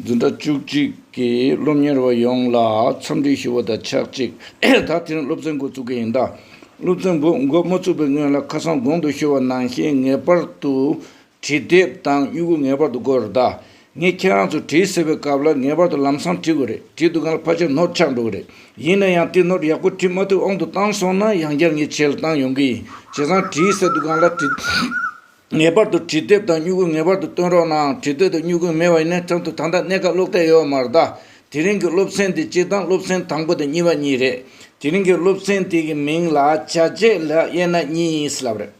འཛིན་གྲྭ་བཅུ་གཅིག་གི་སློབ་གཉེར་བ་ཡོངས་ལ་འཚམས་འདྲི་ཞུ་བ་དང་ཆགས་གཅིག་ད་ཐེངས་སློབ་ཚན་འགོ་བཙུགས་མཁན་ཡིན་ད། སློབ་ཚན་འགོ་འགོ་མ་བཙུགས་པའི་སྔོན་ལ་ཁ་སང་དགོང་དུ་ཤོར་བ་ནང་བཞིན་ངེས་པར་དུ་བྲིས་དེབ་དང་དབྱུ་གུ་ངེས་པར་དུ་དགོས་རེད་ད། ངས་ཁྱེད་རང་ཚོ་བྲིས་ཟེར་བའི་སྐབས་ལ་ངེས་པར་དུ་ལམ་སང་བྲིས་དགོས་རེད་བྲིས་འདུག་ག་ལ་ཕར་ཆག་ནོར་ཆག་འགྲོ་གི་རེད་ཡིན་ན་ཡང་དེ་ནོར་ཡག་པོ་བྲིས་མ་ཐུབ་ཨང་དུ་བཏང་སོང་ན་ཡང་བསྐྱར་ངས་བྱས་ལ་བཏང་ཡོང་གི་ཡིན་བྱས་ཙང་བྲིས་ཟེར་འདུག་ག་ལ་བྲིས། ངེས་པར་དུ་བྲིས་དེབ་དང་སྨྱུ་གུ་ངེས་པར་དུ་བཏོན་རོགས་གནང་བྲིས་དེབ་དང་སྨྱུ་གུ་མེད་པ་ཡིན་ན་ཁྲིམས་ཐོག་ད་ལྟ་གནས་སྐབས་སློབ་གྲྭས་ཡོད་མ་རེད་ད། དེ་རིང་གི་སློབ་ཚན་དེ་གཅིག་དང་སློབ་ཚན་དང་པོ་དང་གཉིས་པ་གཉིས་རེད། དེ་རིང་གི་སློབ་ཚན་དེ་གི་མིང་ལ་བྱ་བྱེད་ལས་དབྱེ་ན་གཉིས་ཡིན་སྲིད་ལབ་རེད།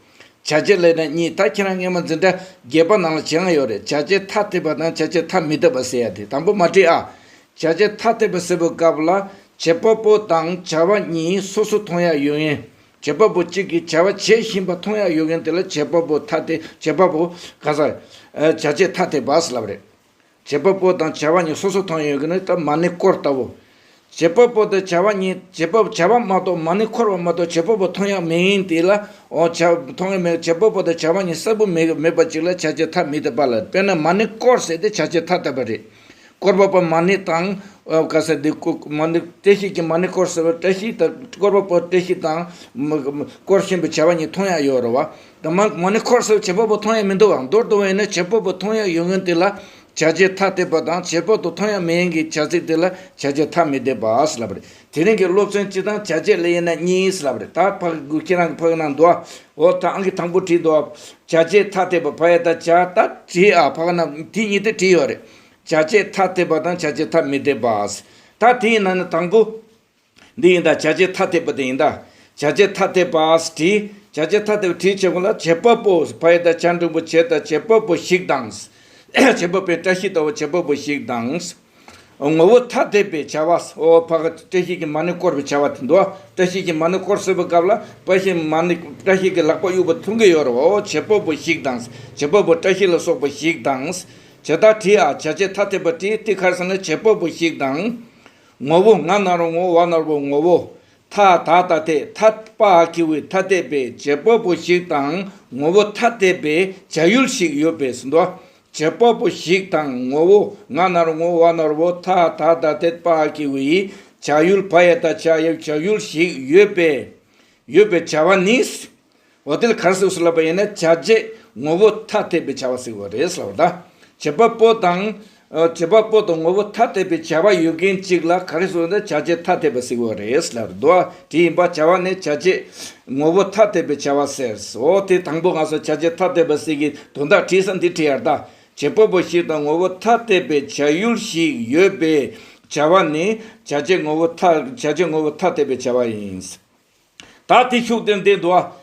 བྱ་བྱེད་ལས་ན་གཉིས་ད་ཁྱེད་རང་ངེད་མ་འཛིན་གྲྭ་བརྒྱད་པ་ནང་ལ་བྱེད་དབང་ཡོད་རེད་བྱ་བྱེད་ཐ་དད་པ་དང་བྱ་བྱེད་ཐ་མི་དད་པ་ཟེར་ཡ་དེ་དང་པོ་མ་བྲིས་ཨ། བྱ་བྱེད་ཐ་དད་པ་ཟེར་བའི་སྐབས་ལ་བྱེད་པ་པོ་དང་བྱ་བ་གཉིས་སོ་སོ་མཐོང་ཡ་ཡོད་ངེས་བྱེད་པ་པོ་གཅིག་གིས་བྱ་བ་བྱེད་བཞིན་པ་མཐོང་ཡག་ཡོད་མཁན་དེ་ལ་བྱེད་པ་པོ་ཐ་དད་བྱེད་པ་པོ་ག་ས་བྱ་བྱེད་ཐ་དད་བར་སུ་ལབ་རེད། བྱེད་པ་པོ་དང་བྱ་བ་གཉིས་སོ་སོར་མཐོང་ཡོད་མཁན་ནི་སྟབས་མ་ནི་སྐོར་ལྟ་བུ། བྱེད་པ་པོ་དང་བྱ་བ་གཉིས་བྱེད་པ་བྱ་བ་མ་གཏོགས་མ་ནི་འཁོར་བ་མ་གཏོགས་བྱེད་པ་པོ་མཐོང་ཡག་མིན་དེ་ལ་འོ་བྱ་མཐོང་ཡག་མིན་བྱེད་པ་པོ་དང་བྱ་བ་གཉིས་གསལ་པོ་མེད་པ་གཅིག་ལ་བྱ་བྱེད་ཐ་མི་དད་པ་ལ་དཔེར་ན་མ་ནི་སྐོར་ཟེར་ཏེ་བྱ་བྱེད་ཐ་དད་པ་རེད། སྐོར་བ་པོ་མ་ཎི་དང། བཀའ་སྲས་འདི་སྐོར་མ་ཎི་བཀྲ་ཤིས་ཀྱི་མ་ཎི་སྐོར་ཟེར་བ་བཀྲ་ཤིས་དང་སྐོར་བ་པོ་བཀྲ་ཤིས་དང། སྐོར་གཤིན་པོ་བྱ་བ་གཉིས་མཐོང་ཡ་ཡོད་རེད་བ། དེ་མ་མ་ཎི་འཁོར་ཟེར་བ་བྱེད་པོ་པོ་མཐོང་ཡ་མི་འདུག་བ་མདོར་བསྡུ་བ་ཡིན་ན་བྱེད་པོ་པོ་མཐོང་ཡ་ཡོད་ངེས་དེ་ལ་བྱ་བྱེད་ཐ་དད་པ་དང་བྱེད་པོ་ཏོ་མཐོང་ཡ་མེད་ཡིན་གྱི་བྱ་ཚིག་དེ་ལ་བྱ་བྱེད་ཐ་མི་དད་པ་ལབ་རེད། དེ་རིང་གི་སློབ་ཚན་སྤྱི་དང་བྱ་བྱེད་ལས་ཡིན་ན་གཉིས་ཡིན་ལབ་རེད་ད་ཕག་གི་ཁྱེད་རང་གི་ཕག་ནང་འདུག་ཨ་འོ་ད་ཨང་གི་དང་པོ་བྲིས་འདུག་བྱ་བྱེད་ཐ་དད་པ་ཕ་ཡ་དང་བྱ་ད་བྲིས་ཨ་ཕག་ནང་དེ་གཉིས་དེ་བྲིས་ཡོད་རེད་བྱ་བྱེད་ཐ་དད་པ་དང་བྱ་བྱེད་ཐ་མི་དད་པ་ད་དེ་ཡིན་ན་ནི་དང་པོ་འདི་ཡིན་ད་བྱ་བྱེད་ཐ་དད་པ་དེ་ཡིན་ད་བྱ་བྱེད་ཐ་དད་པ་བྲིས་བྱ་བྱེད་ཐ་དད་པ་བྲིས་བྱེད་ཁོ་ལ་བྱེད་པ་པོ་ཕ་ཡ་དང་བྱ་འབྲིང་པོ་བྱེད་ད་བྱེད་པ་པོ་ཞིག་དང། བྱེད་པ་པོའི་བཀྲ་ཤིས་ད་བོ་བྱེད་པ་པོ་ཞིག་དང། ངོ་བོ་ཐ་དད་པའི་བྱ་བ་སོ་ཕག་གི་བཀྲ་ཤིས་ཀྱི་མ་ནི་བསྐོར་བའི་བྱ་བ་དེ་འདུག་བཀྲ་ཤིས་ཀྱི་མ་ནི་བསྐོར་བསྲེག་པའི་སྐབས་ལ་བཀྲ་ཤིས་མ་ནི་བཀྲ་ཤིས་ཀྱི་ལག་པ་དབྱུག་པ་ཐུང་གིས་གཡོག་རོ་བྱེད་པོ་པོ་ཞིག་དང་བྱེད་པོ་པོ་བཀྲ་ཤིས་ལ་སོགས་པ་ཞིག་དང། བྱེད་བདག་བྲི་ཨ་བྱ་བྱེད་ཐ་དད་པ་བྲི་ཏི་ཁར་སེང་ལ་བྱེད་པོ་པོ་ཞིག་དང། ངོ་བོ་ང་ནར་བོ་ངོ་བོ་བ་ནར་བོ་ངོ་བོ་ཐ་ད་ད་དེ་ཐ་པ་ཨ་ཁི་བའི་ཐ་དད་པའི་བྱེད་པོ་པོ་ཞིག་དང་ངོ་བོ་ཐ་དད་པའི་བྱ་ཡུལ་ཞིག་ཡོད་པས་སོ་འདུག་བྱེད་པ་པོ་ཞིག་དང་ངོ་བོ་ང་ནར་ངོ་བ་ནོར་བོ་ཐ་ད་ད་དད་པ་ཀྱི་བ་ཡི་བྱ་ཡུལ་བ་ཡ་ད་བྱ་ཡབ་བྱ་ཡུལ་ཞིག་ཡོད་པས་ཡོད་པའི་བྱ་བ་ནི་བ་དལ་གར་སོགས་སུ་ལབ་པ་ཡིན་ན་བྱ་བྱེད་ངོ་བོ་ཐ་དད་པའི་བྱ་བ་སིག་བ་རེད་བསལ་བ་ད་བྱེད་པ་པོ་དང་བྱེད་པ་པོ་དང་ངོ་བོ་ཐ་དད་པའི་བྱ་བ་ཡོད་མཁན་ཅིག་ལ་ག་རེ་སོགས་ཡིན་ན་བྱ་བྱེད་ཐ་དད་པ་སིག་བ་རེད་བསལ་བ་ད། དེ་ཡིན་པར་བྱ་བ་ནི་བྱ་བྱེད་ངོ་བོ་ཐ་དད་པའི་བྱ་བ་ཟེར། འོ་དེ་དང་པོ་ང་སོགས་བྱ་བྱེད་ཐ་དད་པ་ཟིག་གིས་དོན་དག་བྲིས་སམ་འདི་བྲིས་ཡར་ལྟ། བྱེད་པོ་པོ་ཞིག་དང་ངོ་བོ་ཐ་དད་པའི་བྱ་ཡུལ་ཞིག་ཡོད་པས་བྱ་བ་ནི་བྱ་བྱེད་ངོ་བོ་ཐ་དད་པའི་བྱ་བ་ཡིན། ད་དེ་ཤུགས་ལྡན་འདས་འདུལ་བ།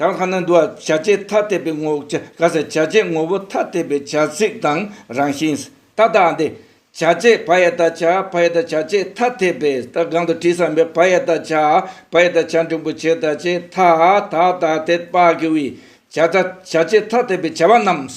དང་ཁ་ན་འདུ་བ་བྱ་བྱེད་ཐ་དད་པའི་ངོ་བོ་ཆ་ག་སའི་བྱ་བྱེད་ངོ་བོ་ཐ་དད་པའི་བྱ་ཚིག་དང་རང་བཞིན་ས་ཏྭ་ཏཱ་འདི། བྱ་བྱེད་བ་ཡ་ཏཱ་བྱ་བ་ཡ་ཏཱ་བྱ་བྱེད་ཐ་དད་པའི་ས་ཏྭ་གང་དུ་དྲི་བསམ་པའི་བ་ཡ་ཏཱ་བྱ་བ་ཡ་ཏཱ་བྱ་འབྲིང་པོ་བྱེད་ད་བྱེད་ཐ་དད་པ་དེ་དཔག་གི་བའི་བྱ་ད་བྱ་བྱེད་ཐ་དད་པའི་བྱ་བ་རྣམས།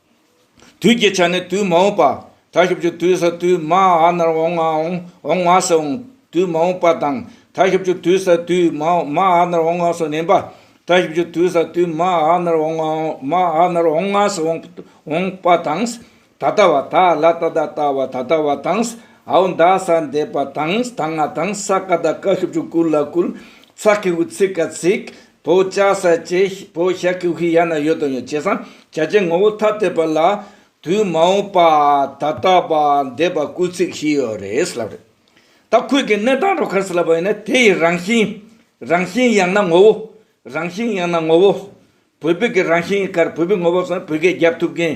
དུས་ཀྱི་ཆ་ནི་དུས་མ་འོངས་པ། ཐ་ཤབ་ཀྱི་དུས་སུ་དུས་མ་ཨ་ནར་འོང་ང་འོང་འོང་ང་སུ་འོང། དུས་མ་འོངས་པ་དང། ཐ་ཤབ་ཀྱི་དུས་སུ་དུས་མ་མ་ཨ་ནར་འོང་ང་སུ་བསྣན་པ། ཐ་ཤབ་ཀྱི་དུས་སུ་དུས་མ་ཨ་ནར་འོང་ང་འོང་མ་ཨ་ནར་འོང་ང་སུ་འོང་འོང་པ་དང། ད་ལྟ་བ་ད་ལ་ད་ལྟ་ལྟ་བ་ད་ལྟ་བ་དང། ཨའོ་འདའ་ས་འདས་པ་དང་ད་ང་དང་ས་ཀ་ད་ཀ་ཤུབ་ཀྱི་ཀུ་ལ་ཀུལ། ཚ་ཁི་ཧུ་ཚི་ཀ་ཚིག། བོ་ཅག་ས་ཆའི་བོ་ཤ་ཀི་ཧུའི་ཡ་ན་ཡོད་དོ་ཡོད་བྱས་སམ་བྱ་བྱེད་ངོ་བོ་ཐ་དད་པ་ལ་དུས་མ་འོངས་པ་ད་ལྟ་བ་འདས་པ་སྐུལ་ཚིག་བཞི་ཡོད་རེད་ལབ་རེད། ད་ཁོས་ཀྱི་གནས་སྟངས་རོ་ཁར་སི་ལབ་པ་ཡིན་ན་དེ་ཡི་རང་བཞིན་རང་བཞིན་ཡང་ན་ངོ་བོ་རང་བཞིན་ཡང་ན་ངོ་བོ་བོད་བོད་ཀྱི་རང་བཞིན་ཡིན་ཁར་བོད་བོད་ངོ་བོ་སོགས་བོད་སྐད་རྒྱབ་ཐུབ་མཁན་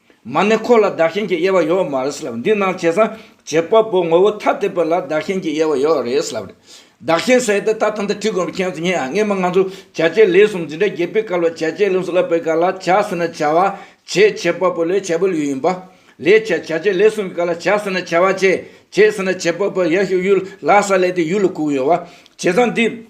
མ་ནི་འཁོར་ལ་བདག་གཞན་གྱི་དབྱེ་བ་ཡོད་མ་རེད་ལབ་འདི་སྣང་བྱེད་སངས་བྱེད་དཔའ་བོ་ངོ་བོ་ཐ་དད་པ་ལ་བདག་གཞན་གྱི་དབྱེ་བ་ཡོད་རེད་ལབ་བདག་གཞན་ཟེར་ཏེ་ད་ལྟ་འདི་བྲིས་དགོས་པའི་མཁྱེན་ཚུལ་ཉེ་ངེས་མ་ང་ཚོ་བྱ་བྱེད་ལས་གསུམ་འཛིན་གྲྭ་རྒྱས་པའི་སྐབས་ལ་བྱ་བྱེད་ལས་གསུམ་བསླབ་པའི་སྐབས་ལ་བྱ་ཟེར་ན་བྱ་བ་བྱེད་བྱེད་དཔའ་བོ་ལས་བྱ་བའི་ལུས་ཡིན་པ་ལས་བྱ་བྱ་བྱེད་ལས་གསུམ་གྱི་སྐབས་ལ་བྱ་ཟེར་ན་བྱ་བ་བྱེད་བྱེད་ཟེར་ན་བྱེད་དཔའ་བོ་ཡར་ཞུ་གཡུལ་ལ་ས་ལས་དེ་ཡུལ་ལ་གུག་ཡོད་བ་བྱེད་སངས་འདི།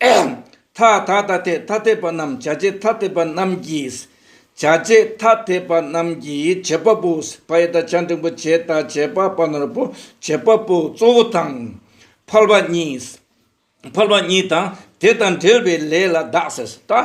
ཐ་དད་ཐ་དད་ཐ་དད་པ་རྣམས་བྱ་བྱེད་ཐ་དད་པ་རྣམས་ཀྱིས་བྱ་བྱེད་ཐ་དད་པ་རྣམས་ཀྱི་བྱེད་པ་པོ་བའི་དག་བྱ་འབྲིང་པོ་བྱེད་དང་བྱེད་པ་པ་ནོར་བུ་བྱེད་པ་པོ་གཙོ་བོ་དང། འཕར་བ་གཉིས་འཕར་བ་གཉིས་དང་དེ་དང་འབྲེལ་བའི་ལས་ལ་བདག་ཟེར།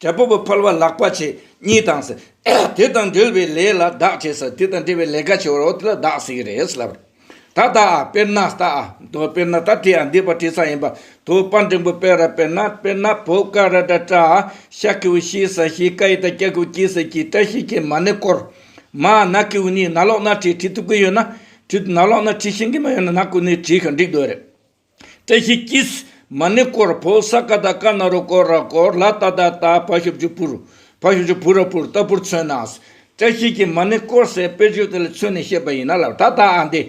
དྲེད་པོ་བུ་ཕལ་བ་ལག་པ་ཆེ་གཉིས་དང་ཟེར། དེ་དང་འབྲེལ་བའི་ལས་ལ་བདག་ཅེས་ཟེར། དེ་དང་འབྲེལ་བའི་ལས་ཀ་བྱེད་པར་རོ་དེ་ལ་བདག་ཟེར་གྱི་རེད་ཟེར་ལབ། ད་ལྟ་ཨ་དཔེར་ན་ལྟ་ཨ། དོ་དཔེར་ན་ལྟ་དེ་ཡང་འདི་པར་དྲི་ས་ཡིན་པ། དོ་དཔར་འབྲིང་པོ་དཔེ་ར་དཔེར་ན་དཔེར་ན་བོ་ཀ་ར་སྒྲ་ཀྲ་ཨ། ཤ་ཀེ་བུ་ཤི་ས་ཤི་ཀ་ཡི་ད་ཀྱ་ཀེ་བུ་ཀྱི་ས་ཀྱི་ཀྲ་ཤི་ཀའི་མ་ནི་བསྐོར། མ་ན་ཀེ་བུ་ནི་ན་ལོག་ན་བྲིས་བྲིས་ཐུབ་ཀྱི་ཡོད་ན་བྲིས་ན་ལོག་ན་བྲིས་ཤེས་ཀྱི་མ་ཡོད་ན་ན་ཀུ་ནི་བྲིས་ཤིང་འགྲིག་འདོད་རེད། བཀྲ་ཤིས་སྐྱིད། མ་ཎི་སྐོར་བོ་ས་ཀ་ད་ཀ་ན་རོ་སྐོར་ར་སྐོར་ལ་ཏཱ་ཏཱ་ཏཱ་ཕ་ཤུབ་ཆུ་བུར་ཕ་ཤུབ་ཆུ་བུར་ར་བུར་ལྟ་བུར་མཚོན་ན། བཀྲ་ཤིས་ཀྱིས་མ་ཎི་སྐོར་སའི་དཔེར་བརྗོད་དེ་ལ་མཚོན་ནས་བཤད་པ་ཡིན་ན་ལབ་ད་ད་ཨ་འདི།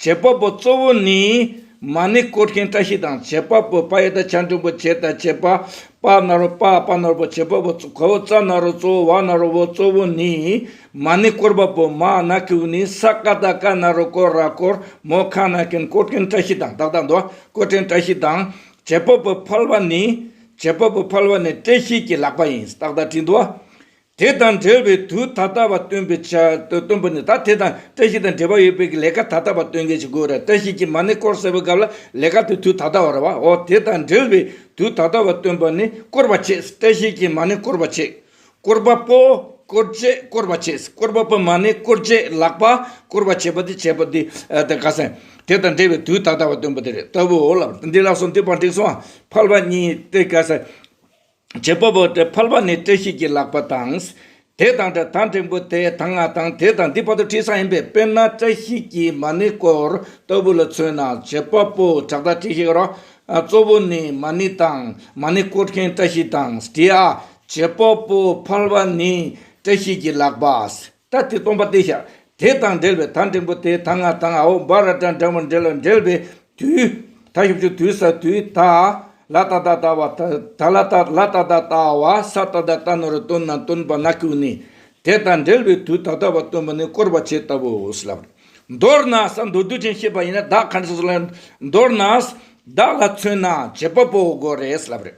བྱེད་པ་པོ་གཙོ་བོ་ནི། མ་ཎི་སྐོར་མཁན་བཀྲ་ཤིས་དང་བྱེད་པ་པོ་པ་ཡེ་ད་ཆ་འབྲིང་པོ་བྱེད་ད་བྱེད་པ་པ་ན་རོ་པ་པ་ན་རོ་བོ་བྱེད་པ་པོ་གཙོ་བོ་ཙ་ན་རོ་གཙོ་བོ་བ་ན་རོ་བོ་གཙོ་བོ་ནི། མ་ནི་བསྐོར་བ་པོ་མ་ན་ཀེའུ་ནི་ས་ཀ་ད་ཀ་ན་རོ་ཀོ་ར་ཀོར་མོ་ཁ་ན་ཀན་བསྐོར་ཀན་བཀྲ་ཤིས་དང་བདག་དང་འདོ་བསྐོར་བྲན་བཀྲ་ཤིས་དང། བྱེད་པོ་པོ་ཕལ་བ་ནི། བྱེད་པོ་པོ་ཕལ་བ་ནི་བཀྲ་ཤིས་ཀྱི་ལག་པ་ཡིན་བདག་དང་བྲིས་འདོ། དེ་དང་འབྲེལ་བའི་དུས་ད་ལྟ་བ་སྟོན་པའི་ཆ་སྟོན་པོ་ནི་ད་དེ་དང་བཀྲ་ཤིས་དང་འབྲེལ་བ་ཡོད་པའི་གི་ལས་ཀ་ད་ལྟ་བ་སྟོན་མཁན་གྱི་དགོས་ར་བཀྲ་ཤིས་ཀྱི་མ་ནི་བསྐོར་ཟེར་བའི་སྐབས་ལ་ལས་ཀ་དེ་དུས་ད་ལྟ་བ་ར་བའོ་དེ་དང་འབྲེལ་བའི་དུས་ད་ལྟ་བ་སྟོན་པ་ནི་བསྐོར་བ་བྱེད་བཀྲ་ཤིས་ཀྱི་མ་ནི་བསྐོར་བ་བྱེད། བསྐོར་བ་པོ་བསྐོར་བཅས་བསྐོར་བ་བྱས། བསྐོར་བ་པོ་མ་ནི་བསྐོར་བཅས་ལག་པ་བསྐོར་བ་བྱས་པ་དེ་བྱས་པ་དེ་དག་ག་ཟེ། དེ་དང་འབྲེལ་བའི་དུས་ད་ལྟ་བ་སྟོན་པ་དེ་རེད་ལྟ་བུའོ་ལབ། འདི་ལ་སོ་འདི་བར་འགྲིགས་སོ། ཕལ་བ་གཉིས་ཏེ་ག་ཟེ། བྱེད་པ་པོ་ཏེ་ཕལ་བ་ནི་བཀྲ་ཤིས་ཀྱི་ལག་པ་དང། དེ་དང་འདྲ་དང་འབྲིང་པོ་དེ་དང་ང་དང་དེ་དང་འདི་བར་དུ་བྲིས་ས་ཡིན་པས་དཔེར་ན་བཀྲ་ཤིས་ཀྱི་མ་ནི་བསྐོར་ལྟ་བུ་ལ་མཚོན་ན་བྱེད་པ་པོ་དྲག་ད་བྲིས་ཤིག་རོགས། གཙོ་བོ་ནི་མ་ནི་དང་མ་ནི་བསྐོར་མཁན་བཀྲ་ཤིས་དང་བྲིས་ཨ། བྱེད་པོ་པོ་འཕར་བ་ནི་བཀྲ་ཤིས་ཀྱི་ལག་པ། ད་དེ་སྟོང་པ་སྟེ་ཞག་དེ་དང་འབྲེལ་བའི་ད་འབྲིང་པོ་དེ་ད་ང་དང་ཨའོ་བ་ར་ཏྲ་འདྲ་བོ་འབྲེལ་ལ་འབྲེལ་བའི་དུས། ད་ཤུབ་ཤུབ་དུས་ས་དུས་ད་ལ་ད་ད་ད་བ་ད་ལ་ད་ལ་ད་ད་ད་བ་ས་ད་ད་ད་ནོར་སྟོན་ན་སྟོན་པ་ན་ཁུག་ནི། དེ་དང་འབྲེལ་བའི་དུས་ད་ད་བ་སྟོན་པ་ནི་བསྐོར་བ་བྱེད་ལྟ་བུའོ་ལ། མདོར་ན་ས་མདོ་དུས་ཅན་ཤེས་པ་ཡིན་ན་བདག་གང་ཞིག་སོགས་ལ་མདོར་ན། བདག་ལ་མཚོན་ན་བྱེད་པོ་པོ་དགོས་རེད་ལབ་རེད།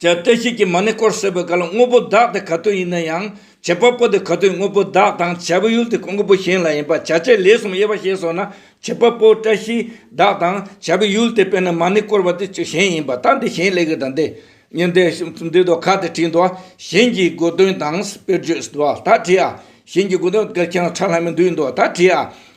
ཅེས་བཀྲ་ཤིས་ཀྱི་མ་ནི་སྐོར་གསོལ་བའི་བཀའ་ལ་དངོས་པོ་བདག་དེ་ག་དུས་ཡིན་ན་ཡང་བྱེད་པ་པོ་དེ་ག་དུས་དངོས་པོ་བདག་དང་བྱ་བའི་ཡུལ་དེ་གང་གི་བུ་གཞན་ལ་ཡིན་པར་བྱ་བྱེད་ལས་གསུམ་དབྱེ་བ་ཤེས་སོ་ན་བྱེད་པ་པོ་བཀྲ་ཤིས་བདག་དང་བྱ་བའི་ཡུལ་དེ་དཔེར་ན་མ་ནི་བསྐོར་བ་དེ་ཆོས་གཞན་ཡིན་པ་དང་དེ་གཞན་ལས་གི་དང་དེ་ཉིད་དེ་འདི་དོ་ག་དེ་བྲིས་འདུག་གཞན་གྱི་དགོས་དོན་དང་དཔེར་བརྗོད་འདུག་ད་བྲིས་ཨ། གཞན་གྱི་དགོས་དོན་དགེར་ཁྱེད་རང་ཁྲག་ལྷ་མི་འདུས་འདུག་ད་བྲིས་ཨ།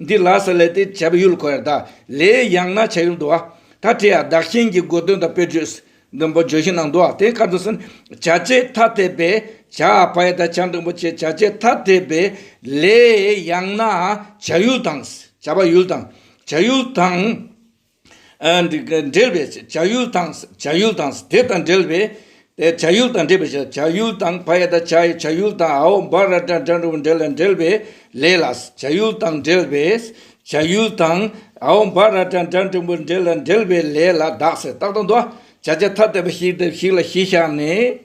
འདི་ལ་ས་ལས་ཏེ་བྱ་བ་ཡུལ་གོ་ཡང་དག་ལས་ཡང་ན་བྱ་ཡུལ་འདུ་བ། ད་དེ་ཡང་བདག་གཞན་གྱི་སྒོ་དོན་དང་པོའི་བརྗོད་སྲིད་འདུན་པོ་བརྗོད་གཞི་ནང་འདུ་བ་དེ་ཁ་ཚུན་ཟིན་བྱ་བྱེད་ཐ་དད་པས་བྱ་བ་ཡི་དང་བྱ་འབྲིང་པོ་བྱེད་བྱ་བྱེད་ཐ་དད་པས་ལས་ཡང་ན་བྱ་ཡུལ་དང་བྱ་བ་ཡུལ་དང་བྱ་ཡུལ་དང། འབྲེལ་བའི་བྱ་ཡུལ་དང། བྱ་ཡུལ་དང། དེ་དང་འབྲེལ་བའི་བྱ་ཡུལ་དང། འབྲེལ་བའི་བྱ་ཡུལ་དང། བ་ཡ་དང་བྱ་ཡི་བྱ་ཡུལ་དང། ཨའོ་བ་ར་དྲ་དྲ་འབྲུག་འབྲེལ་ལ་འབྲེལ་བའི་ལས་ལ། བྱ་ཡུལ་དང་འབྲེལ་བའི་བྱ་ཡུལ་དང། ཨའོ་བ་ར་དྲ་དྲ་འབྲུག་འབུར་འབྲེལ་ལ་འབྲེལ་བའི་ལས་ལ་གདགས་སེ་རྟག་ཏུ་འདུ་བྱ་བྱ་ཐ་དད་པ་ཞིག་དང་ཞིག་ལ་གཞི་བཞག་ནས།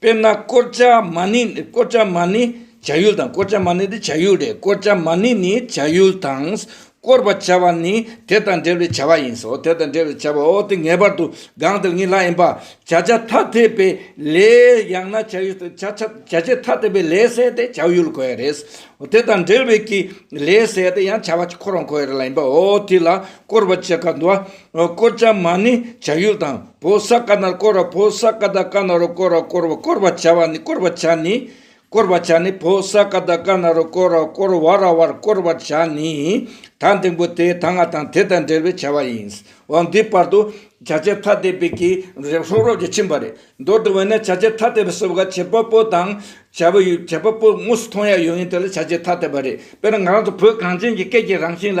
དཔེར་ན་ཀོར་ཅཱ་མཱ་ནི། ཀོར་ཅཱ་མཱ་ནི་བྱ་ཡུལ་དང། ཀོར་ཅཱ་མཱ་ནི་དེ་བྱ་ཡུལ་རེད། ཀོར་ཅཱ་མཱ་ནི་ནི་བྱ་ཡུལ་དང། བསྐོར་བར་བྱ་བ་ནི་དེ་དང་འབྲེལ་བའི་བྱ་བ་ཡིན། སོ་དེ་དང་འབྲེལ་བའི་བྱ་བའོ། དེ་ངེས་པར་དུ་གང་དེར་ངེས་ལྷག་ཡིན་པ། བྱ་བྱ་ཐ་དད་པའི་ལས། ཡང་ན་བྱ་ཡུལ་བྱ་བྱ་བྱེད་ཐ་དད་པའི་ལས་བསལ་ཏེ་བྱ་ཡུལ་གོ་ཡ་རེད། དེ་དང་འབྲེལ་བའི་ཀྱི་ལས་བསལ་ཏེ་ཡང་བྱ་བ་ཁོ་རང་གོ་ཡ་རེད་ལ་ཡིན་པའོ། དེ་ལ་བསྐོར་བར་བྱེད་ཀ་འདུ་བ་བསྐོར་བྱ་མ་ནི་བྱ་ཡུལ་དང་པོ་ས་ཀ་ནར་བསྐོར་བ་པོ་ས་ཀ་དག་ཀ་ན་རུ་བསྐོར་བ་བསྐོར་བ་བསྐོར་བར་བྱ་བ་ནི་བསྐོར་བར་བྱ་ནི། བསྐོར་བར་བྱ་ནི་པོ་ས་ཀ་དག་ཀ་ན་རུ་བསྐོར་བ་བསྐོར་བ་ར་བར་བསྐོར་བར་བྱ་ནི། ད་འདིང་པོ་དེའི་ད་སྔ་དང་དེ་དང་འབྲེལ་བའི་བྱ་བ་ཡིན། འོ་འདིའི་བར་དུ་བྱ་བྱེད་ཐ་དད་པའི་གིས་རེག་ཧྲོབ་རོབ་ཀྱིས་ཕྱིན་པ་རེད་མདོར་བསྡུ་བས་ན་བྱ་བྱེད་ཐ་དད་པའི་སྲོལ་བ་བྱེད་པ་པོ་དང་བྱ་བ་ཡུལ་བྱེད་པ་པོ་དངོས་སུ་མཐོང་ཡ་ཡོད་ཡིན་དེ་ལ་བྱ་བྱེད་ཐ་དད་པ་རེད་དཔེར་ན་ང་རང་ཚོ་བོད་གངས་ཅན་གྱི་སྐད་ཀྱི་རང་བཞིན་ལ་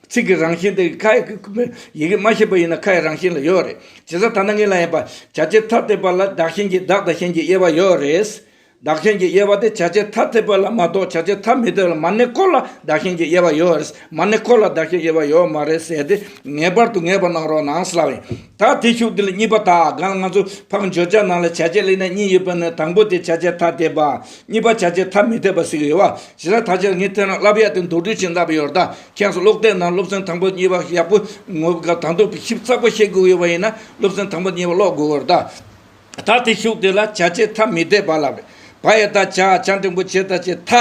ཚིག་གི་རང་བཞིན་དེ་ཡི་ཁ་ཡི་གེ་མ་ཤེས་པ་ཡིན་ན་ཁ་ཡི་རང་བཞིན་ལ་ཡོད་རེད། ཇི་ལྟར་ད་ནངས་ལ་ཡིན་པ་བྱ་བྱེད་ཐ་དད་པ་ལ་བདག་གཞན་གྱི་བདག་དང་གཞན་གྱི་དབྱེ་བ་ཡོད་རེད། བདག་གཞན་གྱི་དབྱེ་བ་དེ་བྱ་བྱེད་ཐ་དད་པ་ལ་མ་གཏོགས་བྱ་བྱེད་ཐ་མི་དད་ལ་མ་གནས་སྐོར་ལ་བདག་གཞན་གྱི་དབྱེ་བ་ཡོད་རེད་མ་གནས་སྐོར་ལ་བདག་གཞན་དབྱེ་བ་ཡོད་མ་རེད་ཟེར་ཏེ་ངེས་པར་དུ་ངེས་པར་གནང་རོགས་གནང་སླ་བས། ད་དེ་ཤུགས་འདི་ལ་གཉིས་པ་དག་གང་ལ་ང་ཚོ་ཕག་འབྱོར་བྱ་ནང་ལ་བྱ་བྱེད་གླེང་ན་གཉིས་ཡོད་པ་ནི་དང་པོ་དེ་བྱ་བྱེད་ཐ་དད་པ། གཉིས་པ་བྱ་བྱེད་ཐ་མི་དད་པ་ཟེར་གྱི་ཡོད་བ། ཇི་ལྟར་ད་ཆར་ངས་ཐོས་ན་བསླབ་ཡག་དེ་མདོར་བསྡུས་ཆེས་འདྲ་པོ་ཡོད་རེད་ད། ཁྱེད་ཚོ་ཀློག་དེབ་ནང་སློབ་ཚན་དང་པོ་གཉིས་པ་ཡག་པོ་ངོ་དགའ་དང་དོག་པའི་ཞིབ་ཚགས་པོ་བཤད་དགོས་ཡོད་པ་ཡིན་ན་སློབ་ཚན་དང་པོ་གཉིས་པ་ཀློག་དགོས་པར་གདའ། ད་དེ་ཤུགས་དེ་ལ་བྱ་བྱེད་ཐ་མི་དད་པ་ལ་བས་པ་ཡི་ད་བྱ་བྱ་འབྲིང་པོ་བྱེད་ད་བྱེད་ཐ་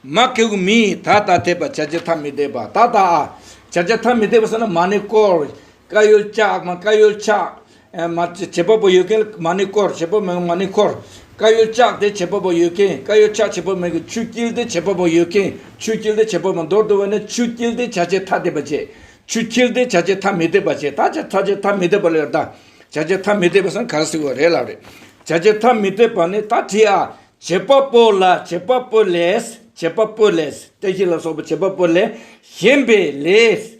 མ་ཀེ་གུ་མི་ཡི་ད་ད་དད་པ་བྱ་བྱེད་ཐ་མི་དད་པ་ད་ད་ཨ། བྱ་བྱེད་ཐ་མི་དད་པ་ཟེར་ན་མ་ནི་ཀོར། ཀ་ཡོལ་ལྕགས་མ་ཀ་ཡོལ་ཆགས། བྱེད་པ་པོ་ཡོད་མཁན་མ་ནི་བསྐོར་བྱེད་པོ་མེད་མཁན་མ་ནི་འཁོར། ཀ་ཡོད་ལྕགས་དེ་བྱེད་པ་པོ་ཡོད་མཁན་ཀ་ཡོད་ལྕགས་བྱེད་པོ་མེད་མཁན་ཆུ་དཀྱིལ་དེ་བྱེད་པ་པོ་ཡོད་མཁན་ཆུ་དཀྱིལ་དེ་བྱེད་པོ་མེད་མདོར་བསྡུ་བ་ནི་ཆུ་དཀྱིལ་དེ་བྱ་བྱེད་ཐ་དད་པ་བྱེད། ཆུ་དཀྱིལ་དེ་བྱ་བྱེད་ཐ་མི་དད་པ་བྱེད་ད་ཆ་བྱ་བྱེད་ཐ་མི་དད་པ་ལ་ཡོད་ད། བྱ་བྱེད་ཐ་མི་དད་པ་སམ་ག་རེ་ཟེར་བ་རེད་ལབ་རེད། བྱ་བྱེད་ཐ་མི་དད་པ་ནི་ད་དེ་ཨ། བྱེད་པ་པོ་ལ་བྱེད་པ་པོ་ལས་བྱེད་པ་པོ་ལས་དེ་བཞིན་ལ་སོགས་པ་བྱེད་པ་པོ་ལས་གཞན་པའི་ལས།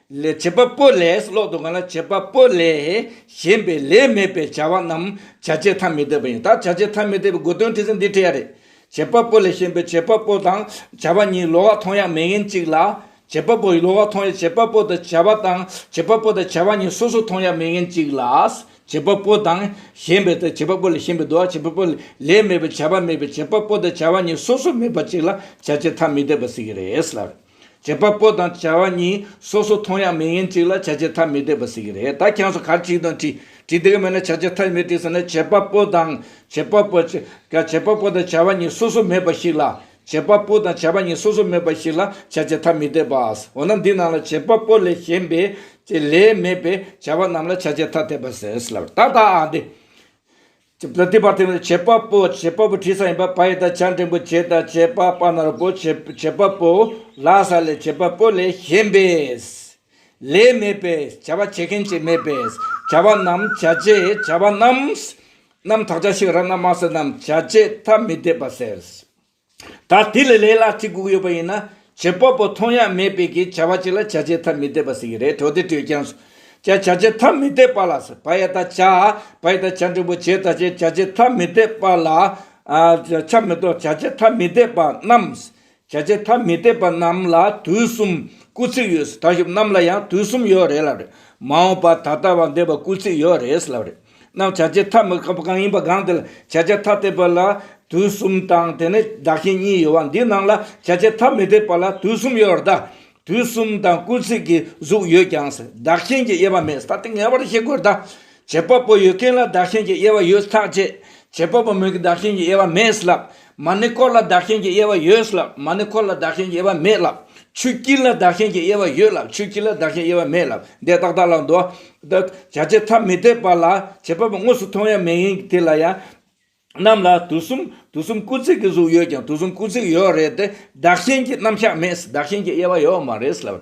ལས་བྱེད་པ་པོ་ལས་སུ་ལོག་འདུག་ག་ལ་བྱེད་པ་པོ་ལས་གཞན་པའི་ལས་མེད་པའི་བྱ་བ་རྣམས་བྱ་བྱེད་ཐ་མི་དད་པ་ཡིན་ད་བྱ་བྱེད་ཐ་མི་དད་པའི་དགོས་དོན་དྲི་ཟ་འདི་བྲི་ཡ་རེད་བྱེད་པ་པོ་ལས་གཞན་པའི་བྱེད་པ་པོ་དང་བྱ་བ་གཉིས་ལོག་མཐོང་ཡག་མེད་ཡིན་གཅིག་ལ་བྱེད་པ་པོ་ཡི་ལོག་མཐོང་ཡག་བྱེད་པ་པོ་དང་བྱ་བ་དང་བྱེད་པ་པོ་དང་བྱ་བ་གཉིས་སོ་སོ་མཐོང་ཡག་མེད་ཡིན་གཅིག་ལ་བྱེད་པ་པོ་དང་གཞན་པའི་དང་བྱེད་པ་པོ་ལས་གཞན་པའི་དུ་བ་བྱེད་པ་པོ་ལས་མེད་པའི་བྱ་བ་མེད་པའི་བྱེད་པ་པོ་དང་བྱ་བ་གཉིས་སོ་སོ་མེད་པ་གཅིག་ལ་བྱ་བྱེད་ཐ་མི་དད་པ་སྲིད་གི་རེད་ལབ། བྱེད་པ་པོ་དང་བྱ་བ་གཉིས་སོ་སོ་མཐོང་ཡང་མིང་ཡིན་གཅིག་ལ་བྱ་བྱེད་ཐ་མི་དད་པ་ཟེར་གྱི་རེད་ད་ཁྱེད་ཚོ་གར་བྲིས་དང་བྲིས་བྲིས་དེ་ག་མེད་ན་བྱ་བྱེད་ཐ་མི་དད་ཟེར་ན་བྱེད་པ་པོ་དང་བྱེད་པ་པོ་བྱེད་པ་པོ་དང་བྱ་བ་གཉིས་སོ་སོ་མེད་པ་ཞིག་ལ་བྱེད་པ་པོ་དང་བྱ་བ་གཉིས་སོ་སོ་མེད་པ་ཞིག་ལ་བྱ་བྱེད་ཐ་མི་དད་པ་འོ་ན་འདི་རྣམས་ལ་བྱེད་པ་པོ་ལས་གཞན་པའི་ལས་མེད་པས་བྱ་བ་རྣམས་ལ་བྱ་བྱེད་ཐ་དད་པ་ཟེར་ལ་ད་ལྟ་འདི། བྱེད་པ་པོ་བྱེད་པ་པོ་བྲིས་ས་ཡིན་པ་བ་ཡི་དང་བྱ་འབྲིང་པོ་བྱེད་དང་བྱེད་པ་པ་ནོར་བུ་བྱེད་པ་པོ་ལ་ས་ལས་བྱེད་པ་པོ་ལས་གཞན་པས། ལས་མེད་པས་བྱ་བ་བྱེད་མཁན་གྱིས་མེད་པས་བྱ་བ་རྣམས་བྱ་བྱེད་བྱ་བ་རྣམས། རྣམས་དག་བྱ་ཞིག་ར་ན་མ་སུ་རྣམས་བྱ་བྱེད་ཐ་མི་དད་པ་ཟེར། ད་དེ་ལས་ལས་སླ་ཐིག་གུག་ཡོད་པ་ཡིན་ན་བྱེད་པ་པོ་མཐོང་ཡ་མེད་པའི་གི་བྱ་བ་གཅིག་ལ་བྱ་བྱེད་ཐ་མི་དད་པ་ཟེར་གི་རེད་གྲོ་དེ་དྲོས་ཀྱང་སོ་བྱ་བྱ་བྱེད་ཐ་མི་དད་པ་ལ་ཟེར་བ་ཡ་ད་བྱ་བ་ཡ་ད་བྱ་འབྲིང་པོ་བྱེད་ད་བྱེད་བྱ་བྱེད་ཐ་མི་དད་པ་ལ་ཆ་མི་གཏོགས་བྱ་བྱེད་ཐ་མི་དད་པ་རྣམས་བྱ་བྱེད་ཐ་མི་དད་པ་རྣམས་ལ་དུས་གསུམ་སྐུལ་ཚིག་ཡོད་ཟེར་ད་ཞུབ་རྣམས་ལ་ཡང་དུས་གསུམ་ཡོད་རེད་ལབ་རེད་མ་འོངས་པ་ད་ལྟ་བ་འདས་པ་སྐུལ་ཚིག་ཡོད་རེད་ལབ་རེད། རྣམས་བྱ་བྱེད་ཐ་མི་དད་པ་གང་ཡིན་པ་གང་དེ་ལ་བྱ་བྱེད་ཐ་དད་པ་ལ་དུས་གསུམ་དང་དེ་ནས་བདག་གཞན་གཉིས་ཡོད་བ་འདི་རྣམས་ལ་བྱ་བྱེད་ཐ་མི་དད་པ་ལ་དུས་གསུམ་ཡོད་བར་གདའ། དུས་གསུམ་དང་སྐུལ་ཚིག་གི་གཟུགས་ཡོད་ཀྱང་བདག་གཞན་གྱི་དབྱེ་བ་མེད་ས་དེ་ངེས་པར་ཤེས་དགོས་གདའ། བྱེད་པ་པོ་ཡོད་མཁན་ལ་བདག་གཞན་གྱི་དབྱེ་བ་ཡོད་ཐག་བཅད། བྱེད་པ་པོ་མེད་ཀྱི་བདག་གཞན་གྱི་དབྱེ་བ་མེད་ལབ། མ་ནི་འཁོར་ལ་བདག་གཞན་གྱི་དབྱེ་བ་ཡོད་ལ། མ་ནི་འཁོར་ལ་བདག་གཞན་གྱི་དབྱེ་བ་མེད་ལ། ཆུ་དཀྱིལ་ལ་བདག་གཞན་གྱི་དབྱེ་བ་ཡོད་ལ་ཆུ་དཀྱིལ་ལ་བདག་གཞན་དབྱེ་བ་མེད་ལ། འདས་རྟག་བདག་ལ་འདོད། བྱ་བྱེད་ཐ་མི་དད་པ་ལ་བྱེད་པ་པོ་དངོས་སུ་མཐོང་ཡང་མེད་ཡིན་དེ་ལ་ཡང། རྣམས་ལ་དུས་གསུམ་དུས་གསུམ་སྐུ་ཚེགས་ཀྱི་གཟུགས་ཡོད་ཀྱང་དུས་གསུམ་སྐུ་ཚེགས་ཡོད་རེད་དེ་བདག་གཞན་གྱི་རྣམ་གཞག་མེད་བདག་གཞན་གྱི་དབྱེ་བ་ཡོད་མ་རེད་ལབ།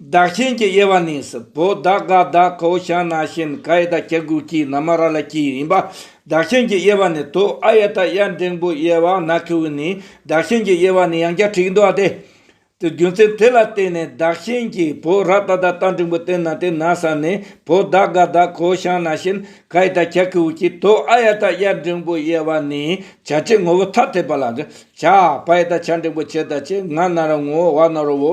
བདག་གཞན་གྱི་དབྱེ་བ་ནི་སི་བོ་ད་ག་ད་ཁོ་ཤཱ་ན་ཤིན་ཀ་ཡི་ད་ཀྱ་གུ་ཀྱི་ན་མ་ར་ལ་ཀྱི་ཡིན་པ། བདག་གཞན་གྱི་དབྱེ་བ་ནི་དོ་ཨ་ཡ་ད་ཡ་འབྲིང་པོའི་དབྱེ་བ་ན་ཁི་ཝི་ནི་བདག་གཞན་གྱི་དབྱེ་བ་ནི་ཡང་བརྒྱ་ཁྲིག་འདུ་བ་སྟེ། རྒྱུ་མཚན་དེ་ལ་བརྟེན་ནས་བདག་གཞན་གྱི་བོ་ར་ད་ད་ད་འབྲིང་པོ་སྟེ་ན་དེ་ན་ས་ནི་བོ་ད་ག་ད་ཁོ་ཤཱ་ན་ཤིན་ཀ་ཡི་ད་ཀྱ་གུ་ཝི་ཀྱི་དོ་ཨ་ཡ་ད་ཡ་འབྲིང་པོའི་དབྱེ་བ་ནི་བྱ་བྱེད་ངོ་བོ་ཐ་དད་པ་ལ། བྱ་བ་ཡི་ད་བྱ་འབྲིང་པོ་བྱེད་ད་བྱེད་ང་ན་ར་ངོ་བ་ན་རོ་བོ་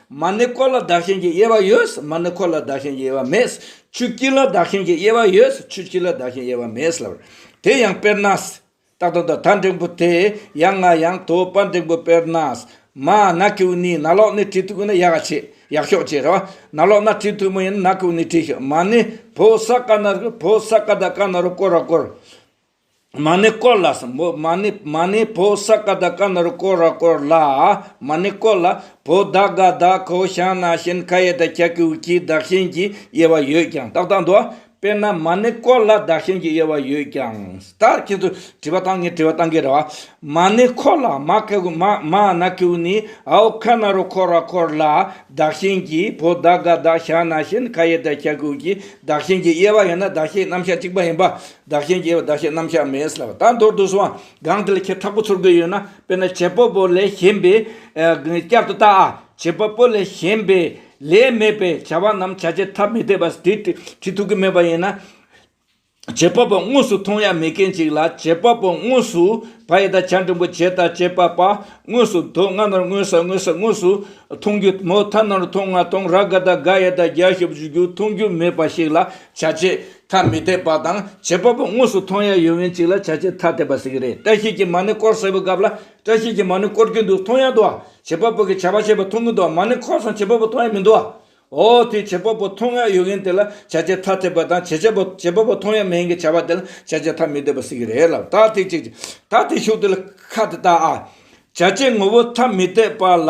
མ་ནི་འཁོར་ལ་བདག་གཞན་གྱི་དབྱེ་བ་ཡོད། མ་ནི་འཁོར་ལ་བདག་གཞན་གྱི་དབྱེ་བ་མེད། ཆུ་དཀྱིལ་ལ་བདག་གཞན་གྱི་དབྱེ་བ་ཡོད། ཆུ་དཀྱིལ་ལ་བདག་གཞན་དབྱེ་བ་མེད། དེ་ཡང་དཔེར་ན། རྟགས་དང་ད་ལྟ་འབྲིང་པོ་དེ། ཡང་ང་ཡང་དོ་པ་འབྲིང་པོ་དཔེར་ན། མ། ན་ཀེའུ་ནི་ན་ལོག་ནི་དྲི་ཐུག་ན་ཡག་ཆེ་ཡག་ཤོག་ཅེས་རེ་བ། ན་ལོག་ན་དྲི་ཐུག་མ་ཡིན་ན་ན་ཀེའུ་ནི་དྲི་ཤོག་མ་ནི་བོད་ས་ཀ་ན་རུ་བོད་ས་ཀ་ད་ཀ་ན་རུ་བསྐོར་བ་བསྐོར། མ་ནི་བསྐོར་ལ། མ་ནི་མ་ནི་བོ་ས་ཀ་དག་ཀ་ན་རུ་བསྐོར་ར་བསྐོར་ལ། མ་ནི་བསྐོར་ལ། བོ་ད་ག་དག་གོ་ཞང་ན་ཤན་ཁ་ཡེ་དག་ཁྱ་ཀུ་ཁྱི་དག་ཤན་གྱི་དབྱེ་བ་ཡོད་ཀྱང་ཏག་ཏག་འདུག། དཔེར་ན་མ་ནི་བསྐོར་ལ་དག་ཤན་གྱི་དབྱེ་བ་ཡོད་ཀྱང། ད་ཁྱེད་ཚོ་དྲི་བ་གཏང་ངེས་དྲི་བ་གཏང་གི་རེད་བ། མ་ནི་བསྐོར་ལ། མ་ཁ་ཀུ་མ་མ་ན་ཀུ་ནི་ཨའོ་ཁ་ན་རུ་བསྐོར་ར་བསྐོར་ལ། དག་ཤན་གྱི་བོ་ད་ག་དག་ཞང་ན་ཤན་ཁ་ཡེ་དག་ཁྱ་ཀུ་ཁྱི་དག་ཤན་གྱི་དབྱེ་བ་ཡོད་ན་དག་ཤན་རྣམ་གཞག་གཅིག་པ་ཡིན་པ། བདག་གཞན་རྒྱལ་བ་བདག་གཞན་རྣམ་གཞག་མེད། ལ་དྭགས་མདོར་བསྡུ་སྲོལ་གང་དེ་ལ་ཁྱེད་འཐབ་པོ་ཚུར་དགོས་ཡོད་ན་དཔེར་ན་བྱེད་པོ་པོ་ལས་གཞན་པའི་བསྐྱར་དུ་བརྟག་ཨ། བྱེད་པོ་པོ་ལས་གཞན་པའི་ལས་མེད་པའི་བྱ་བ་རྣམས་བྱ་བྱེད་ཐ་མི་དད་པ་དེ་བྲི་ཐུབ་ཀྱི་མེད་པ་ཡིན་ན། བྱེད་པོ་པོ་དངོས་སུ་མཐོང་ཡ་མེད་མཁན་ཅིག་ལ་བྱེད་པོ་པོ་དངོས་སུ་བ་ཡི་དང་བྱ་འབྲིང་པོ་བྱེད་དང་བྱེད་པ་པ་དངོས་སུ་མདོ་སྔ་ནོར་དངོས་ས་དངོས་ས་དངོས་སུ་མཐོང་རྒྱུ་མོ་ཐ་ནོར་མཐོང་ང་མཐོང་ར་དགའ་དང་དགའ་ཡ་དང་དགའ་ཞིབ་བརྗོད་རྒྱུ་མཐོང་རྒྱུ་མེད་པ་ཞིག་ལ་བྱ་བྱེད་ཐ་མི་དད་པ་དང་བྱེད་པ་པོ་དངོས་སུ་མཐོང་ཡ་ཡོད་མིན་ཅིག་ལ་བྱ་བྱེད་ཐ་དད་པ་ཟེར་གྱི་རེད་བཀྲ་ཤིས་ཀྱིས་མ་ཎི་སྐོར་ཟེར་བའི་སྐབས་ལ་བཀྲ་ཤིས་ཀྱིས་མ་ཎི་སྐོར་གྱིན་འདུག་མཐོང་ཡ་འདུག་ཨ་བྱེད་པ་པོ་གིས་བྱ་བ་བྱེད་པ་མཐོང་གིན་འདུག་ཨ་མ་ཎི་འཁོར་སོང་བྱེད་པ་པོ་མཐོང་ཡ་མི་འདུག་ཨ་འོ་དེས་བྱེད་པ་པོ་མཐོང་ཡ་ཡོད་མཁན་དེ་ལ་བྱ་བྱེད་ཐ་དད་པ་དང་བྱེད་བྱེད་པོ་བྱེད་པ་པོ་མཐོང་ཡ་མེད་མཁན་བྱ་བ་དེ་ལ་བྱ་བྱེད་ཐ་མི་དད་པ་ཟེར་གྱི་རེད་ལབ་ད་དེ་ཅིག་ཅིག་ད་དེ་ཤུགས་དེ་ལ་ཁ་དེ་བལྟ་ཨ། བྱ་བྱེད་ངོ་བོ་ཐ་མི་དད་པ་ལ་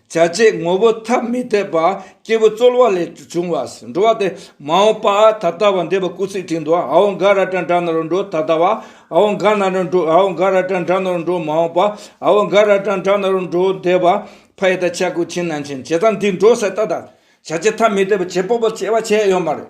བྱ་བྱེད་ངོ་བོ་ཐ་མི་དད་པ་སྐྱེས་བུ་རྩོལ་བ་ལས་བྱུང་བ་འགྲོ་བ་སྟེ་མ་འོངས་པ་ད་ལྟ་བ་འདས་པ་སྐུ་ཚེའི་ཁྲིད་དུ་ཧཱུྃ་འང་ར་ཏྲ་འདྲ་ནོར་འགྲོ་ད་ལྟ་བ་ཧཱུྃ་འང་ན་ར་འགྲོ་ཧཱུྃ་འང་ར་ཏྲ་འདྲ་ནོར་འགྲོ་མ་འོངས་པ་ཧཱུྃ་འང་ར་ཏྲ་འདྲ་ནོར་འགྲོ་འདས་པ་ཕ་ཡི་དག་བྱ་སྐུ་ཆེན་ནང་ཆེན་བྱེད་དང་འདི་འགྲོ་ཟད་ལྟ་དང་བྱ་བྱེད་ཐ་མི་དད་པ་བྱེད་པོ་པོ་བྱེད་པ་བྱེད་ཡོད་མ་རེད་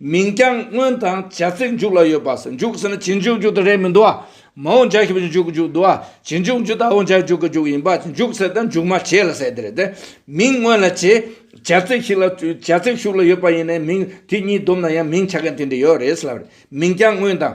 མིང་རྐྱང་སྔོན་དང་བྱ་ཚིག་མཇུག་ལ་ཡོད་པ་སོགས་མཇུག་ཟེར་ན་བྱེད་འཇུག་འཇུག་དང་རེད་མི་འདུག་ཨ། མ་འོངས་འཇའ་ཞེས་པའི་འཇུག་གི་འཇུག་འདུག་ཨ། བྱེད་འཇུག་འཇུག་དང་འོངས་འཇའ་འཇུག་གི་འཇུག་ཡིན་པ་ཚེ་འཇུག་ཟེར་དང་འཇུག་མ་བྱས་ལ་ཟེར་དེ་རེད་དེ། མིང་སྔོན་ལ་བྱེད་བྱ་ཚིག་ཞིག་ལ་བྱ་ཚིག་ཤུགས་ལ་ཡོད་པ་ཡིན་ནའི་མིང་དེ་གཉིས་བསྡོམས་ན་ཡང་མིང་ཆགས་མཁན་དེ་འདྲ་ཡོད་རེད་ཟེར་ལབ་རེད་མིང་རྐྱང་སྔོན་དང།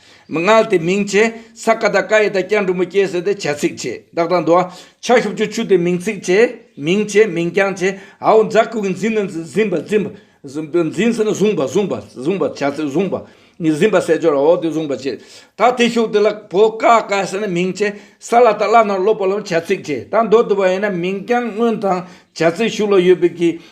མི་མངལ་དེ་མིང་བྱས། ས་ཀ་དག་ཀ་ཡེ་དག་ཀྱང་འབྲུ་མོ་སྐྱེས་ཟེར་ཏེ་བྱ་ཚིག་བྱས། བདག་དང་འདུ་བ། ཕྱག་བཞི་བཅུ་བཅུ་སྟེ་མིང་ཚིག་བྱས། མིང་བྱས་མིང་རྐྱང་བྱས། ཨའོ་འཛག་གུ་གི་འཛིན་ནི་འཛིན་པ་འཛིན་པ། འཛིན་ཟེར་ན་བཟུང་བ་བཟུང་བ་བཟུང་བ་བྱ་ཚིག་བཟུང་བ། ནི་འཛིན་པ་བསལ་སྦྱོར་ཨའོ་དེ་བཟུང་བ་བྱས། ད་དེ་ཤོག་དེ་ལ་བོ་ཀ་ཀ་ཟེར་ན་མིང་བྱས། ས་ལ་དག་བླ་ནང་སློབ་པ་ལ་བྱ་ཚིག་བྱས། ད་འདོ་འདུ་བ་ཡིན་ན་མིང་རྐྱང་སྔོན་དང་བྱ་ཚིག་ཞུགས་ལ་ཡོད་པའི་གི་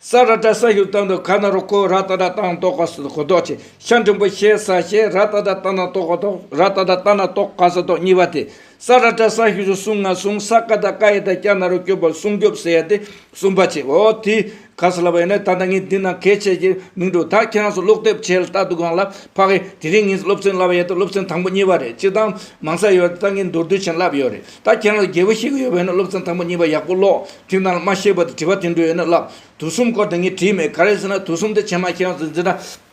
ས་ར་ཏྲ་ས་ཞུ་ཏང་དུ་ཁ་ན་རུ་ཁོ་ར་ཏཱ་ཏྲ་ཏང་ཏོག་ཀ་སུ་གོ་ཏོག་ཆེ་ཤ་འབྲིང་པོ་ཤེ་ས་ཤེ་ར་ཏཱ་ཏྲ་ཏ་ན་ཏོག་གོ་ཏོག་ར་ཏཱ་ཏྲ་ཏ་ན་ཏོག་ཀ་ས་ཏོག་གཉིས་པ་དེ་ས་ར་ཏྲ་ས་ཞུ་སུ་སུང་ང་སུང་ས་ཀ་ད་ཀ་ཡེ་ད་ཀྱ་ན་རུ་སྐྱོབ་པ་སྲུང་སྐྱོབ་ཟེར་ཡ་དེ་གསུམ་པ་ཆེ་འོ་དེ་ག་ས་ལ་བ་ཡིན་ན་ད་ལྟ་ངས་འདི་ན་གལ་ཆེ་ཞེས་མིང་འགྲོ་ད་ཁྱེད་རང་ཚོ་ཀློག་དེབ་ཆེ་ལྟ་འདུག་གང་ལ་ཕ་གི་དེ་རིང་ངས་སློབ་ཚན་བསླབ་པ་ཡ་དེ་སློབ་ཚན་དང་པོ་གཉིས་པ་རེད་སྤྱིར་བཏང་མང་ས་ཡོད་ད་ངས་མདོར་བསྡུས་ཆེན་བསླབ་ཡོད་རེད། ད་ཁྱེད་རང་ལ་རྒྱལ་པོ་ཤེས་གི་ཡོད་པ་ཡིན་ན་སློབ་ཚན་དང་པོ་གཉིས་པ་ཡག་པོ་ཀློག་དུས་ནང་ལ་མ་ཤེས་པ་དེ་དྲི་བ་དུད་འགྲོ་ཡོད་ན་བསླབ། དུས་གསུམ་སྐོར་དེ་ངས་བྲིས་མེད་ག་རེ་ཟེར་ན་དུས་གསུམ་དེ་ཆེ་མ་ཁྱེད་རང་ཚོས་འཛིན་གྲྭ་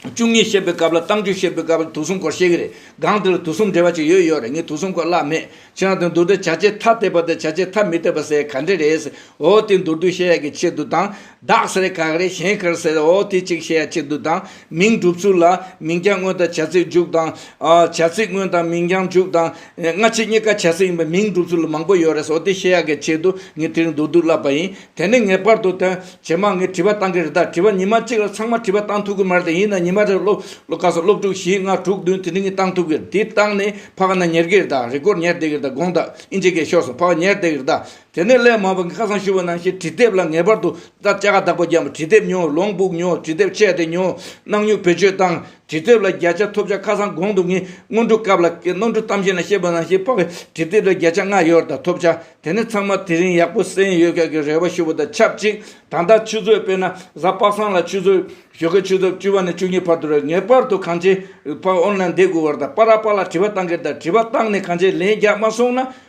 བཅུ་གཉིས་བཤད་པའི་སྐབས་ལ་གཏམ་རྒྱུད་བཤད་པའི་སྐབས་ལ་དུས་གསུམ་སྐོར་བཤད་གི་རེད་སྒང་དེ་ལ་དུས་གསུམ་འབྲེལ་བ་ཅིག་ཡོད་ཡོད་རེད་ངས་དུས་གསུམ་སྐོར་བཀླགས་མེད་ཁྱེད་རང་ཚོས་མདོར་བསྡུས་བྱ་བྱེད་ཐ་དད་པ་དང་བྱ་བྱེད་ཐ་མི་དད་པ་ཟེར་ཡ་ག་འདྲེ་རེད་ཟེར་འོ་དེ་མདོར་བསྡུས་བཤད་ཡག་གི་ཆེད་དུ་དང་བདག་སེར་གག་རེ་གཞན་ཁར་སེར་འོ་དེ་གཅིག་བཤད་ཡ་ཆེ་དུ་དང་མིང་གྲུབ་ཚུལ་ལ་མིང་རྐྱང་དངོས་དང་བྱ་ཚིག་འཇུག་དང། བྱ་ཚིག་དངོས་དང་མིང་རྐྱང་འཇུག་དང། སྔ་ཕྱི་གཉིས་ཀ་བྱ་ཚིག་ཡིན་པའི་མིང་གྲུབ་ཚུལ་མང་པོ་ཡོད་རེད་འོ་དེ་བཤད་ཡ་གི་ཆེད་དུ་ངས་དེ་རིང་མདོར་བསྡུས་བསླབས་པ་ཡིན་དེ་ནས་ངེས་པར་དུ་དོན་ཇེ་མང་ངས་བྲིས་པ་བཏང་གི་རེད་ད་བྲིས་པ་ཉིན་མ་གཅིག་ལ་ཚང་མ་བྲིས་པ་བཏང་ཐུབ་ཀྱི་མ་རེད་དེ་ཡིན་ན་ཉིན་མ་རེར་སློབ་སློབ་ཁག་སོ་སློབ་དྲུག་བཞི་ལྔ་དྲུག་བདུན་དེ་འདྲི་ངས་བཏང་ཐུབ་ཀྱི་རེད་དེ་བཏང་ནས་ཕ་ག་ན་ཉལ་གྱི་རེད་ད་རེ་སྐོར་ཉལ་བསྡད་ཀྱི་རེད་ད་དགོངས་དག་ཨིན་ཇི་གས་ཤོར་སོང་ཕ་ག་ཉལ་བསྡད་ཀྱི་རེད་ད་དེ་ནས་སླད་མ་བབས་ཀྱི་ཁ་སང་ཞུ་བ་ནང་བཞིན་དྲི་དེབ་ལ་ངེས་པར་དུ་དང་བཅའ་ཁ་བདག་པོ་རྒྱབ་དྲི་དེབ་ཉོ་ལོང་སྦུག་ཉོ་དྲི་དེབ་ཆད་དེ་ཉོ་གནང་མྱུར་བེད་སྤྱོད་བཏང་དྲི་དེབ་ལ་བརྒྱ་ཆ་ཐོབ་བྱ་ཁ་སང་གོང་དུ་ངས་སྔོན་འགྲོ་སྐབས་ལ་ནོར་འཁྲུལ་གཏམ་བཤད་ནང་བཤད་པ་ནང་བཞིན་དཔག་པའི་དྲི་དེབ་ལ་བརྒྱ་ཆ་ལྔ་ཡོད་དང་ཐོབ་བྱ་དེ་ནས་ཚང་མ་དེ་རིང་ཡག་པོ་གསན་ཡོད་སྐད་ཀྱི་རེ་བ་ཞུ་བ་དང་ཆབས་ཅིག་ད་ལྟ་ཆུ་ཚོད་དཔེར་ན་གཟའ་དཔག་བསམ་ལ་ཆུ་ཚོད་ཞོ་ཁའི་ཆུ་ཚོད་བཅུ་བ་ནས་བཅུ་གཉིས་བར་དུ་རེད་ངེས་པར་དུ་གངས་ཅན་པ་ཨོན་ལ་འདེད་དགོས་བར་དང་པ་ར་པ་ལ་དྲི་བ་བཏང་གི་དང་དྲི་བ་བཏང་ནས་གངས་ཅན་ལན་རྒྱག་མ་སོང་ན།